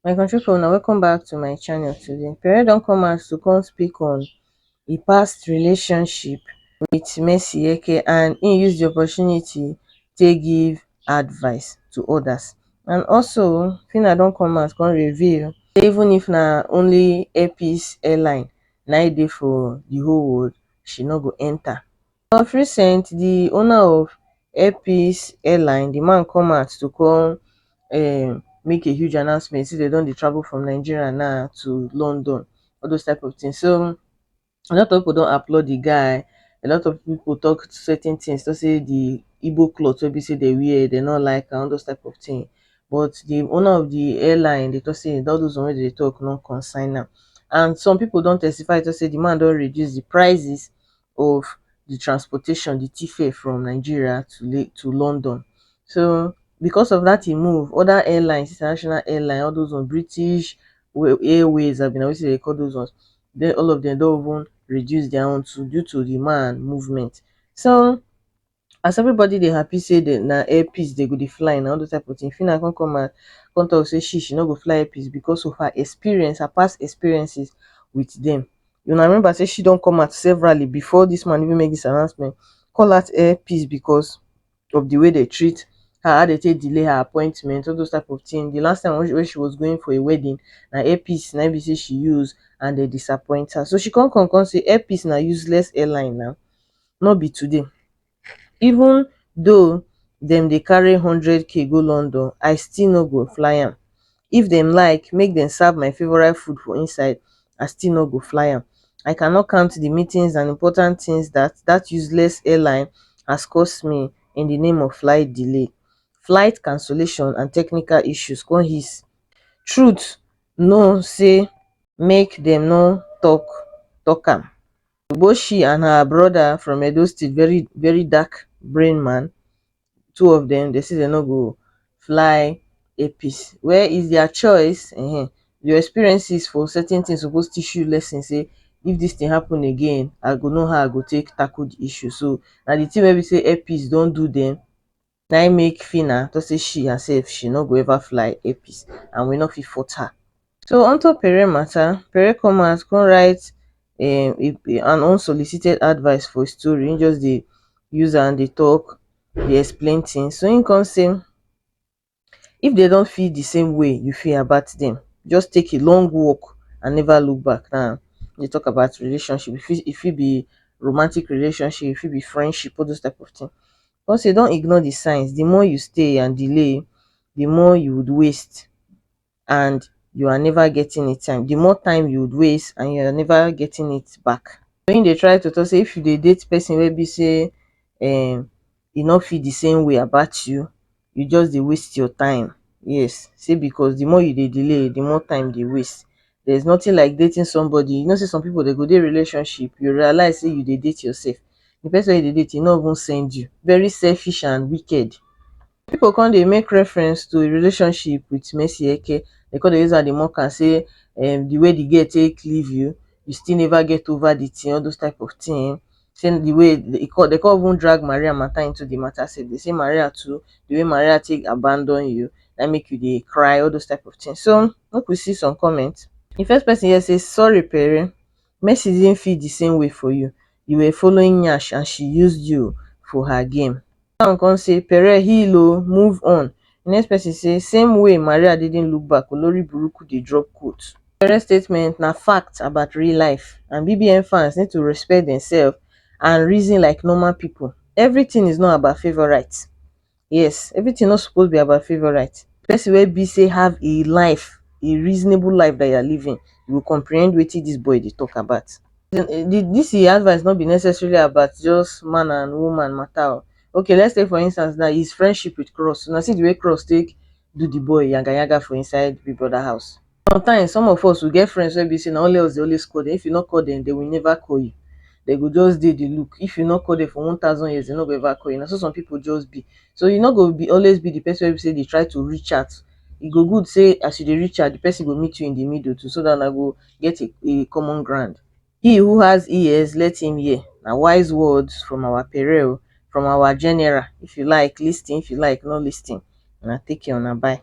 My country people, now welcome back to my channel today. Pere don come out to come speak on a past relationship with Messi Eke and he used the opportunity to give advice to others. And also, Fina don come out come reveal even if na only Airpeace airline na e dey for the whole world, she no go enta. Of recent, di owner of Air Peace Airline, di man come out to come um make a huge announcement sey dem don dey travel from Nigeria na to London, all those type of tins. So, a lot of pipu don applaud di guy, a lot of pipu talk certain tins, talk sey di Igbo cloth wey be sey dem wear, dem no like am, all those type of tin. but di owner of di airline dey tok say all those one wey dem dey tok no concern am and some pipo don testify tok say di man don reduce di prices of di transportation di tifare from Nigeria to Lagos to London so because of dat im move oda airlines international airlines all those one British airways abi na wetin dem dey call those ones all of dem don even reduce dia own too due to di man movement so as everybody dey happy say dem na air peace dem go dey fly na all those type of thing Phyna come come and come talk say she she no go fly air peace because of her experience her past experiences with them una remember say she don come out severally before this man even make this announcement call out air peace because of the way they treat her how they take delay her appointment all those type of thing the last time when she, when she was going for a wedding na air peace na im be say she use and they disappoint her so she come come come say air peace na useless airline na no be today even though dem dey carry hundred k go london i still no go fly am if dem like make dem serve my favourite food for inside i still no go fly am i cannot count the meetings and important things that that useless airline has cost me in the name of flight delay flight cancellation and technical issues con hiss truth no say make dem no talk talk am Eboshi and her brother from Edo State, very very dark brain man, two of them, they say they no go fly APC. Where is their choice? Uh -huh. Your experiences for certain things supposed teach you lesson say if this thing happen again, I go know how I go take tackle the issue. So now the thing where we say APs don't do them, na im make Phyna talk say she herself she no go ever fly Airpeace and we no fit force her. So onto Pere matter, Pere come out come write um an unsolicited advice for his story, him just dey use am dey talk, dey explain things, so him come say if dem don feel the same way you feel about them, just take a long walk and never look back, now dey talk about relationship, e fit be romantic relationship, e fit be friendship, all those type of thing, Cos you don ignore the signs, the more you stay and delay, the more you would waste and you are never getting it time, the more time you would waste and you are never getting it back. So him dey try to talk say if you dey date person wey be say um e no feel the same way about you, you just dey waste your time, yes, say because the more you dey delay, the more time dey waste there's nothing like dating somebody you know sey some people dey go dey relationship you realize sey you dey date yourself the person wey you dey date e no even send you very selfish and wicked people come dey make reference to relationship with Mercy Eke dey come dey use am dey mock am sey um the way the girl take leave you you still never get over the thing all those type of thing sey di way e kon de kon even drag Maria mata into di mata sey den sey Maria too di way Maria tek abandon you na in mek you dey cry all dose type of tin so mek we see some comment. Di first person here sey sorry pere mercy didn't feel di same way for you, you were following nyash and she used you for her game. That one come say, Pere, heal o, move on. The next person say, Same way Maria didn't look back, Olori Buruku dey drop quote. Pere statement na fact about real life and BBN fans need to respect themselves and reason like normal people. Everything is not about favourite. Yes, everything no suppose be about favourite. Person wey be say have a life, a reasonable life that you are living, you will comprehend wetin this boy dey talk about. this e advice no be necessarily about just man and woman matter o okay let's take for instance now his friendship with cross una see the way cross take do the boy yaga yaga for inside big brother house sometimes some of us we get friends wey be say na only us dey always call them if you no call them they will never call you they go just dey dey look if you no call them for one thousand years they no go ever call you na so some people just be so you no go be always be the person wey be say dey try to reach out e go good say as you dey reach out the person go meet you in the middle too so that una go get a a common ground he who has ears let him hear na wise words from our pere o from our general if you like lis ten if you like no lis ten una take care una bye